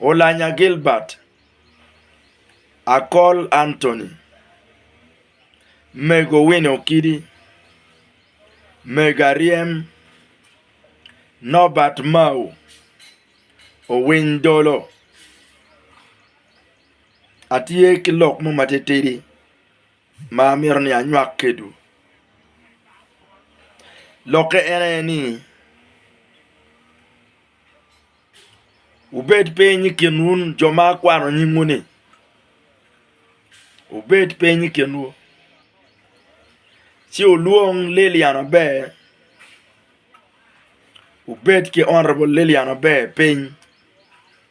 Olanya Gilbert, Akol Anthony, Mego Winnie Okidi, Mega Ryem, Nobert Mao, Owiny Dolo. Atye ki lok mo matitidi. ma amito ni anywak kedwu lokke en aye ni wubed piny i kinwu jo ma akwano nyingwu ni wubed piny i kinwu ci wulwong Lilian aber wubed ki honorable Lilian aber piny.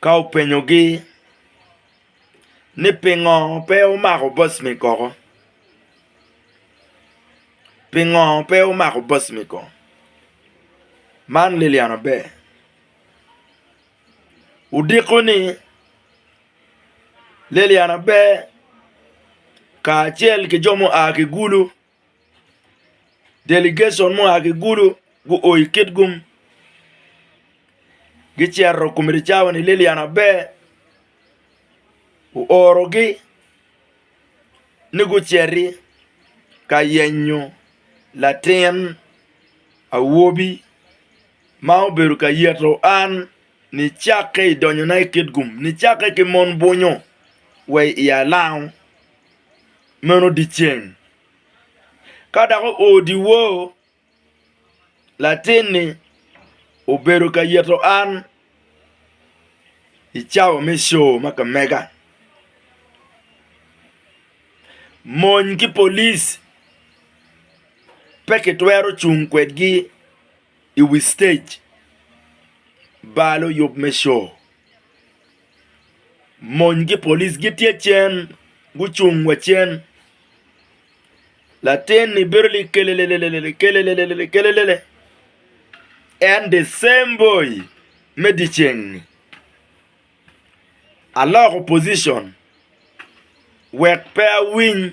Ka openyogi ni pingo pe wumako bocmi koko? Pingo pe wumako bocmi koko? Man Lilian Aber odiko ni Lilian Aber kacel ki jo mua ki Gulu, Delegation mua ki Gulu guo i Kitgum gicito i komiti cawa ni Lillian aber oorogi ni guciti ka yenyo latin awobi ma obedo ka yito an nicakke i donyona i Kitgum nicakke ki mon bunyu wa i Alango. meno dyeceng. Ka dok oo dyewor, latin-ni obedo ka yito an i cawa me co ma ka mega. Mony ki polic pe kitwero cung kwedgi i wi citec balo yub me co. Mony ki polic gitye cen gucung wa cen latin-ni bedo ni kelelele kelelele kelelele en the same boy me dyeceng-ni aloko pocition wek pe awiny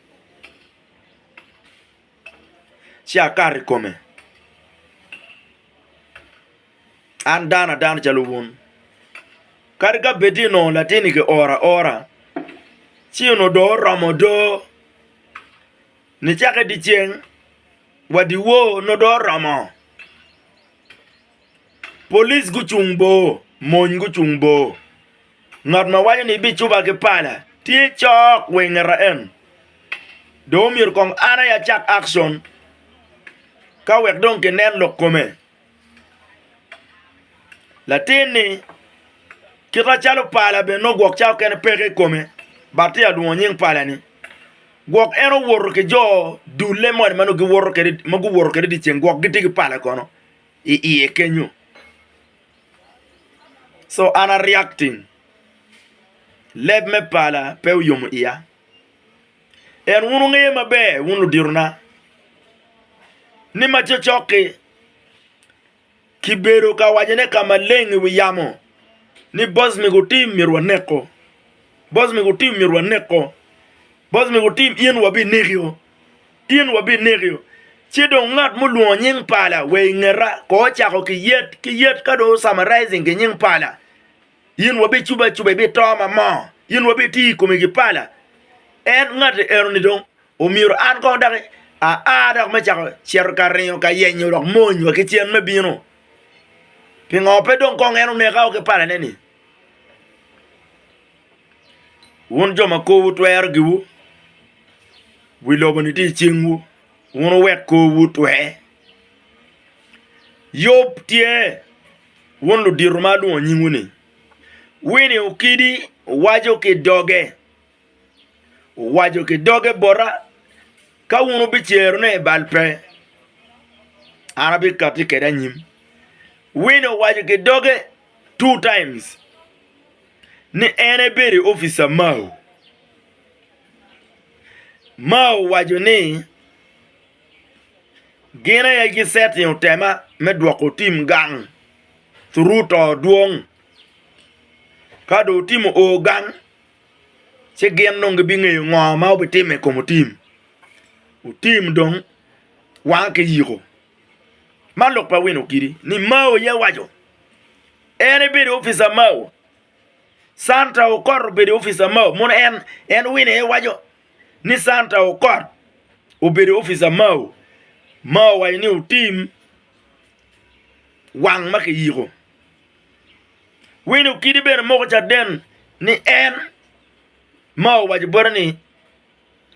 ci akato i kome, an dano adana calo wun. Kadi ka bed ni onongo latinni kioro aora, ci onongo dong oromo odo, nicakke dyeceng wa dyewor nongo dong oromo. Police gucung bor, mony gucung bor. Ngat ma waco ni ibicuba ki pala tye cok wa ingeta en. Dong omyero kong an aye acak action ka wek dong kinen lok kome. Latin-ni kita calo pala bene nongo gwok cawa kene peke i kome but tye ka lwongo nying pala-ni. Gwok en owoto ki jo dulle moni ma nongo giwoto kwede ma guwoto kwede dyeceng gwok gitye ki pala kono. i iye kenyo so an a reacting leb me pala pe oyomo iya en wun wungeyo maber wun luditona ni ma cocoki kibedo ka wacone ka maleng i wi yamo ni boss me gutim myero waneko boss me gutim myero waneko boss me gutim in wabinekio. in wabinekio, ci dong ngat mulwongo nying pala wa i ngeta, kor cako ki yet ki yet ka dong summarizing ki nying pala, in wabicubo acuba ibito ma moo, in wabitiyo i komi ki pala, en ngati enoni dong omyero an kong daki aa dok me cako cito ka ringo ka yenyo dok mony wa ki cen me bino, pingo pe dong kong en oneka o ki palane-ni? Wun jo ma korwu twero giwu, wi lobo-ni tye i cingwu, wun wuwek korwu otwe. Yub tye, wun ludito ma alwongo nyingu-ni, wini okidi waco ki doge, owaco ki doge bota, Ka wun wubicerone i bal pe, an abikatti kwede anyim. Wini owaco ki doge two times ni en ebedo i officer Mao. Mao owaco ni gin aye gi setting otema me dwoko tim gang through to dwong ka do otimo o gang ci gin dong gibingeyo ngo ma obitimo i kom otim otim dong wange ki yiko. Man lok pa wino kidi ni Mao aye awaco en ebedo opica Mao Santa okot obedo opica Mao mono en wino aye waco ni Santa okot obedo opica Mao Mao owaco ni otim wang ma kiyiko wino kidi bene moko caden ni en Mao owaco bote ni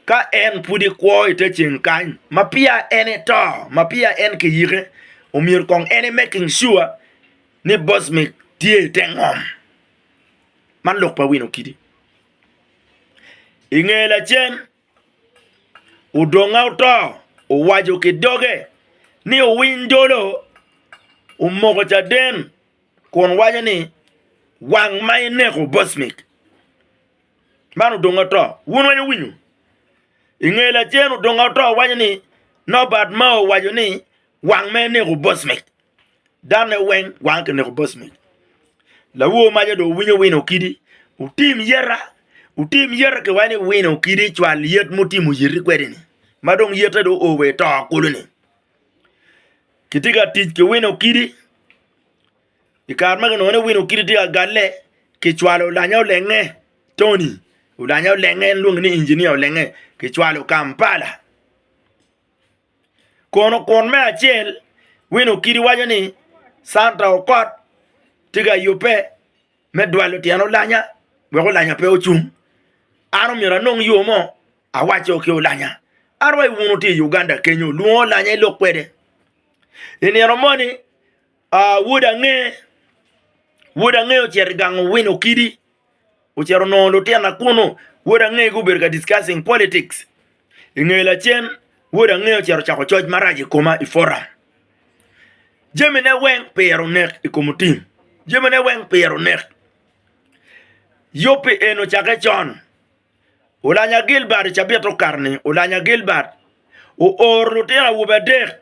ka en pudi kwo i te ceng kany ma peya en eto, ma peya en kiyike, omyero kong en emaking sure ni bosmik tye i te ngom. Man lok pa wino kidi. I nge lacen, odonga oto owaco ki doge ni owiny dolo omoko caden kun waco ni, Wang ma ineko bosmik! Man odong oto. Wun weng wuwinyo. I nge lacen odong oto waco ni Nobert Mao owaco ni wang me neko Bosmec. Danne weng wange ki neko Bosmec. Lawor maca do winyo wino okidi. Wutim yeta, wutim yeta ki wani wino okidi cwal yet mutimo yeti kwedi ni. Ma dong yete do o wa i to kulu ni. Kiti ka tic ki wino okidi. I kare magi onongo en aye wino kit idyek agalle kicwalo olanya olenge Tony olanya olenge en lwonge ni inginia olenge kicwalo Kampala kono kun me acel wino kidi waco ni Canta Okot tye ka yubbe me dwalo tyen olanya wek olanya pe ocung an omyero anong yo mo awaco ki olanya an wa i wunu tye i Uganda kenyo olwongo olanya elok kwede i nino moni Aa, wod ange, wod ange ocito i gang owino okidi, ocito onongo lutina kunu, wod ange gubedo ka discussing politics, i nge lacen wod ange ocito ocako coc marac i koma i forum, jamine weng pire onek i kom otim, jamine weng pire onek, yub pi en ocake con, olanya Gilbert i cabit okato-ni, olanya Gilbert ooro lutino awobe adek.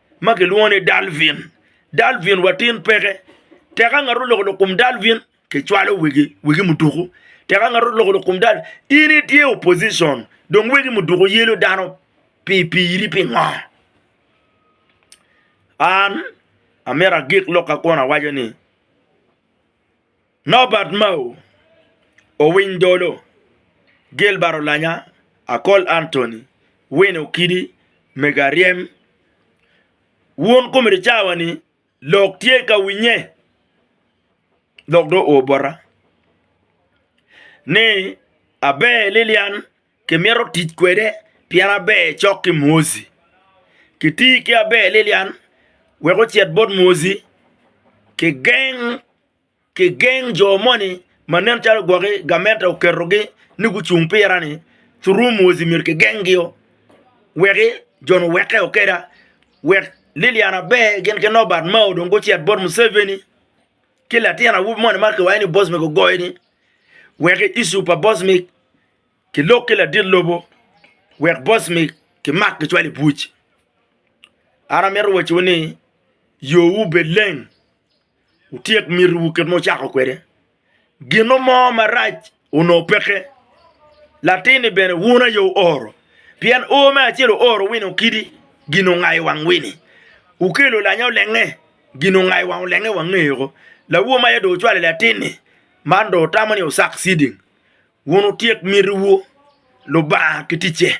ma kilwongo ni Dalvin. Dalvin wa tin peke, tek ka ngat oloko lok kom Dalvin, kicwalo wegi, wegi muduku. Tek ka ngat oloko lok kom Dalvin, in itye opposition, dong wegi muduku yelo dano pi piri pingo? An amito agik lokka kun awaco ni. Nobat Mao, Owiny Dolo, Gilbert Olanya, Akol Anthony, Winnie Okidi, Mego Aryem, Wun komiti cawa ni lok tye ka winye dok dong oo bota ni aber Lilian kimito tic kwede pien aber cok ki Mwozi. Kiti ki aber Lilian wek ocit bot Mwozi kigeng Kigeng jo moni ma nen calo gwoki gamente oketogi ni gucung pira-ni, Thurum Muozi myero kigengio wek jo-nu oweke okeda, wek Lilian Aber gin ki Nobert Mao dong gucit bot Museveni ki latin awobi moni ma kiwaco ni Bosmic ogoyo-ni wek iccu pa Bosmic kilok ki ladit lobo wek Bosmic kimak kicwal i buc. An amito wacciwu ni yowu bed leng. Wutyek mitiwu kit ma wucako kwede. Gino mo marac onongo peke. Latin-ni bene wun aye wuoro, pien o me acel ooro wino kidi gin ongayo wang wini. Wukelo lanya olenge, gin ongayo wang olenge wangeyoko. Lawo ma aye dong wucwalo i latin-ni, man dong wutamo ni wusak ciding. Wun wutyek mitiwu, Lubanga ki ticce.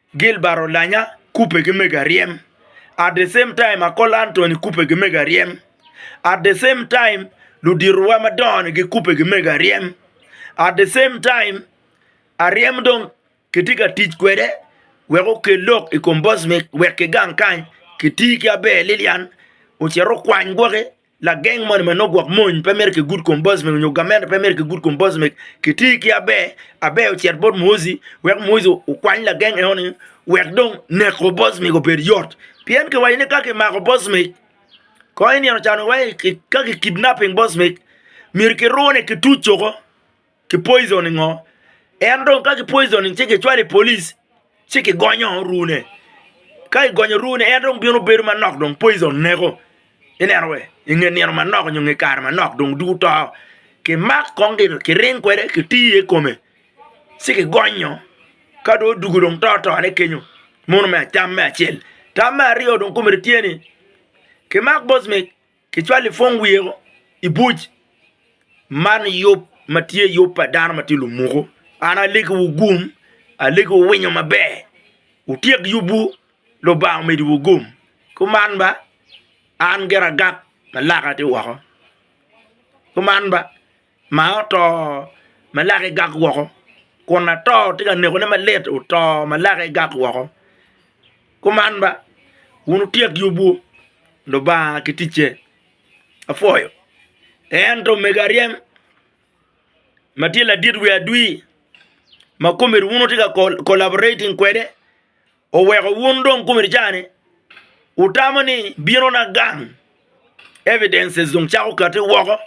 Gilbert Olanya kubbe ki mego aryem at the same time Akola Antony kubbe ki mego aryem at the same time luditowa madongo ni gikubbe ki mego aryem at the same time aryem dong kitye ka tic kwede wek okel lok i kom Bosmik wek kigang kany kiti ki aber Lilian ocit okwany gwoki Lageng moni ma nongo gwok mony pe mito ki good combosmic nyo gamente pe mito ki good combosmic kiti ki aber aber ocit bot muozi wek muozi okwany lageng eno ni wek dong neko bosmic obed yot pien kiwaco ni ka kimako bosmic kong inino calo waci ka ki kidnaping bosmic myero kirune ki tuc coko. Ki poison ingo? En dong ka ki poison in ci ki cwale i polic ci ki gonyo rune ka i gonyo rune en dong bino bedo manok dong poison neko i neno we i nge nino manok nyo nge kare manok dong dugu to ki mak kong ki ring kwede ki tiye i kome ci ki gonyo ka dong odugu dong to to ne kenyo mono me tam me acel tam me aryo dong kome tye ni ki mak bosmik Kicwalo i pwong weko i buc man yub ma tye yub pa dano ma tye lumuku. An alegiwu gum, alegiwu winyo maber, wutyek yubwu, Lubanga omeddiwu gum. Kuman ba, an gire agak ma laka tye woko. Kuman ba, ma oto ma lake gak woko kun lator tye ka nekone malit oto ma lake gak woko kuman ba wun wutyek yubwu Lubanga ki ticce apwoyo ento mego aryem ma tye ladit wiye adwir ma komedi wun wutye ka collaborating kwede Oweko wun dong kumi cani wutamo ni bino na gang evidences dong cako kati woko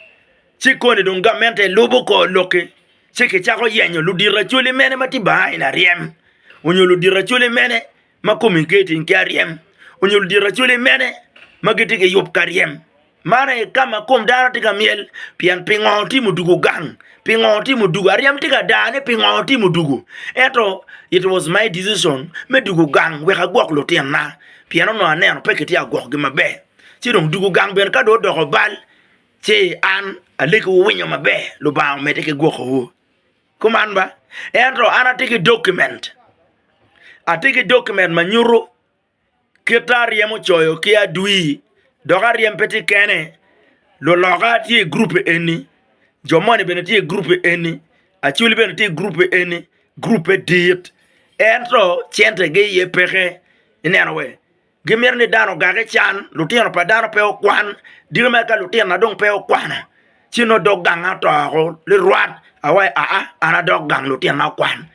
ci koni dong gamente lubo kor loki ci ki cako yenyo ludito acoli mene ma ti bahain aryem onyo ludito acoli mene ma kumi keti ki aryem onyo ludito acoli mene ma giti ki yub ka ryem Man aye ka ma kom dano tye ka myel pien pingo otimo dwogo gang, pingo otimo dwogo aryem tye ka daa ni pingo otimo dwogo ento it was my decision me dwogo gang wek agwok lutinna pien onongo aneno pe kitye ka gwokogi maber ci dong dwogo gang bene ka dong odoko bal ci an alegi wuwinyo maber Lubanga omedde ki gwokowu. Kuman ba ento an atye ki document atye ki document ma nyuto Kite aryem ocoyo ki adwi dok aryem pe tye kene luloka tye i gurup eni jo moni bene tye i gurup eni acwali bene tye i gurup eni gurube dit ento centegi aye peke ineno wai gimito ni dano ogage can lutino pa dano pe okwan diko mere ka lutino ma dong pe okwano ci nongo odog gang aye oto woko lirwat awaci aa an adok gang lutina okwan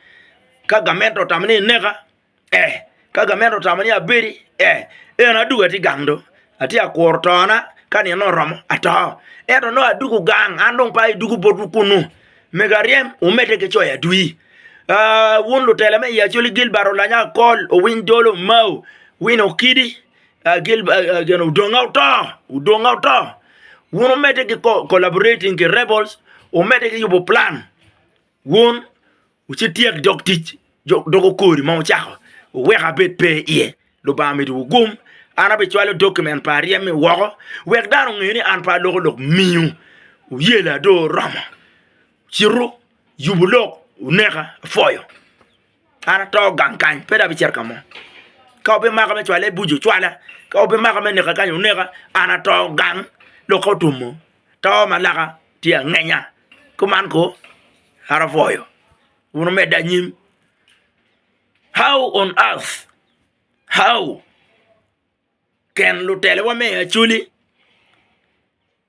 ka gamente otamo ni eneka Eh, ka gamente otamo ni abedi, eh, eno adwogo atye gang do. Atye ka kuro tona, ka nino oromo, ato. Ento nongo adwogo gang, an dong pe adwogo botwu kunnu. Mego aryem, wumedde ki coyo adwi. Ah, wun lutela me i Acholi, Gilbert Olanya Akol, Owiny Dolo Omao, Wino Okidi, ah, Gilb-, ah, ah, gin Odonga Oto, Odonga Oto. Wun wumedde ki co-, collaborating ki rebels, wumedde ki yubo plan. Wun wucityek dog tic dog okori ma wucako, wuwek abed pe iye. Lubanga mito wugum, an abicwalo dokimen pa aryem-mi woko, wek dano onge ni an pe aloko lok miu. Wuyela dong oromo. Citu, yubu lok, wuneka, apwoyo. an ato gang kany pe dong abicito ka mo, ka wubimaka me cwale buc ocwala, ka wubimaka me neka kany wuneka, an ato gang, lok ka otwomo to ma laka tye angenya, kuman ko an apwoyo wun wumedde anyim, how on earth, how kin lutelewa me i acoli.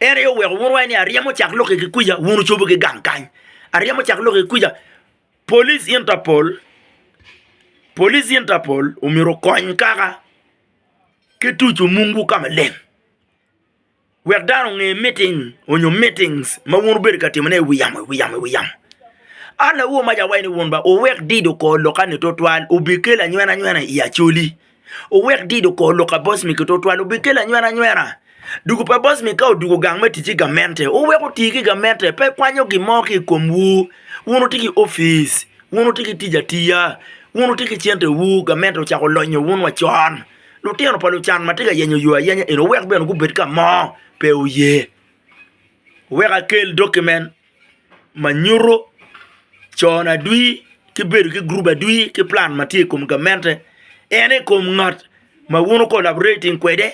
En aye oweko wun wuwaco ni aryemo cak lokke ki kwica, wun wucobo ki gang kany. Aryemo cak lokke ki kwica. Police Interpol, Police Interpol omyero okony kaka ki tucu mungu ka maleng wek dano onge miting onyo mitings ma wun wubedo ka timone i wi yamo, i wi yamo, i wi yamo. An awobi mac awaco ni wun ba wuwek dido kor lokkani tutwal obikelo anywenanywena i Acholi. Wuwek dido kor lok a boss mi kitutwal obikelo anywera anywera. Dugu pa boss mi ka odugu gang me tic ki gamente, wuwek oti ki gamente pe kwanyo gin mo ki i komwu. Wun wutye ki opic, wun wutye ki tic atiya, wun wutye ki centewu, gamente ocako lonyo wun wa con. Lutino pa lucan ma tye ka yenyo yo ayenya eni wuwek bene gubed ka mo, pe wuye. Wuwek akel document ma nyuto cone adwi ki bedo ki gurup adwi ki plan ma tye i kom gamente en aye kom ngat ma wun wu collaborating kwede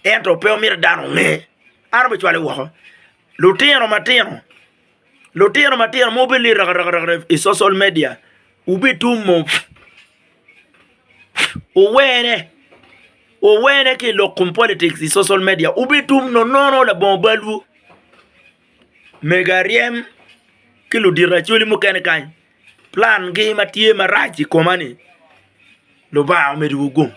ento pe wumito dano onge an obicwale woko lutino matino lutino matino ma wubene liyo raka raka i social media wubitumo wuwene wuwene ki lok kom politics i social media wubitum nono labongo balwu Mega ryem ki ludito racwali mukene kany plan gi ma tye marac i koma ni lubanga omedi wa gung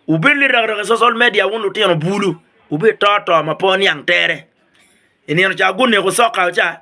wubed lirarab i social media wun lutino bulu wubed to to ma pe oniang tere i nino ca guneko soka wa ca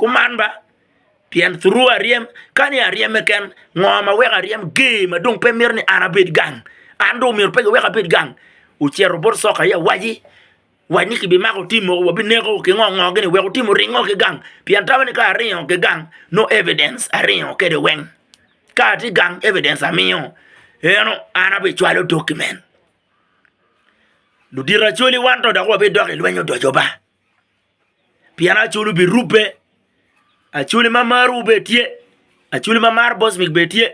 Kuman ba, pien thurwa aryem, ka ni aryem keken, ngo ma weko aryem gee ma dong pe mito ni an abed gang? An dong myero pe giweka abed gang? Ocito bot soka aye awaci, wac ni kibimako tim mogo wabineko ki ngo ngo gini wek otim oringo ki gang, pien tamo ni ka aringo ki gang nongo evidence aringo kwede weng, ka atye gang evidence amiyo, eno an abicwalo tok ki men. Ludito acwali wan to dok wabidok i lweny odoco ba. pien acoli obirubbe, acoli ma marowu bene tye, acoli ma maro bocbic bene tye,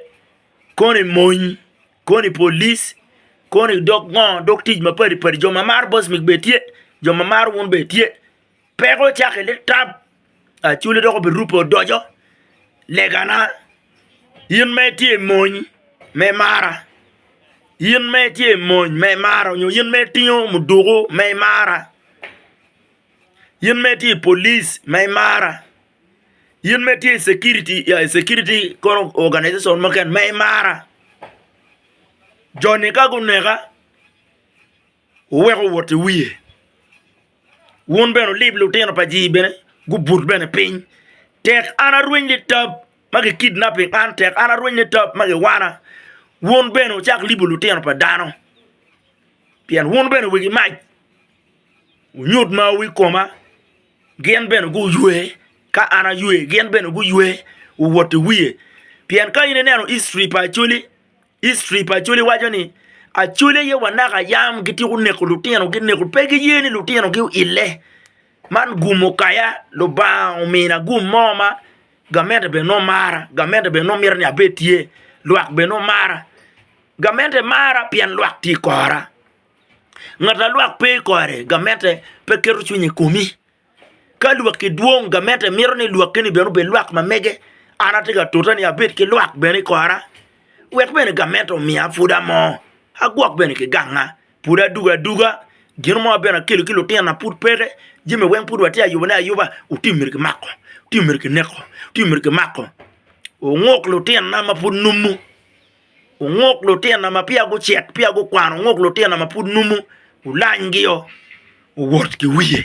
kono i mony, kono i polic, kono i dog ngo, dog tic mapadi padi, jo ma maro bocbic bene tye, jo ma maro wun bene tye, peko cakke nitam. Acwali dok obirupe odoco legana, in ma itye i mony ma imara, in ma itye i mony ma imara nyo in ma itingo muduku ma imara, in ma itye i polic ma imara, in ma itye i cekiriti ya i cekiriti kono oganization mukene ma imara, joni ka guneka. wuwek owot i wiye. Wun bene wulib lutino pa jii bene gubut bene piny. Tek an arweny ni tab ma ki kidnapping an tek an arweny ni tab ma giwana, wun bene wucak libo lutino pa dano. Pien wun bene wigi mac, wunyut mawu i koma, gin bene guywe ka an aywe, gin bene guywe wuwot i wiye. Pien ka in ineno history pa Acholi History pa Acholi waco ni Acholi aye wa naka yam gityeko neko lutino gi neko pe giye ni lutino gi oile man gumo kaya lubanga omina gum mo ma gamente bene nongo mara gamente bene nongo mito ni abed tye lwak bene nongo mara gamente mara pien lwak tye ikora ngat ma lwak pe ikore gamente pe keto cwiny ikomi. Ka lwakki dwong, gamente mito ni lwakki-ni bene obed lwak ma mege. An atye ka tute ni abed ki lwak bene i kora, wek bene gamente omiya pwod amo, agwok bene ki ganga, pwod adugo aduga, gin mo ma bene akelo ki lutinona pud peke, jami weng pud watye ka yubone ayuba, otim mere kimako, otim mere kineko, otim mere kimako, onguk lutinona ma pud numu. Onguk lutina ma peya gucek, peya gukwano, onguk lutina ma pud numu, olanygi-o, owot ki wiye.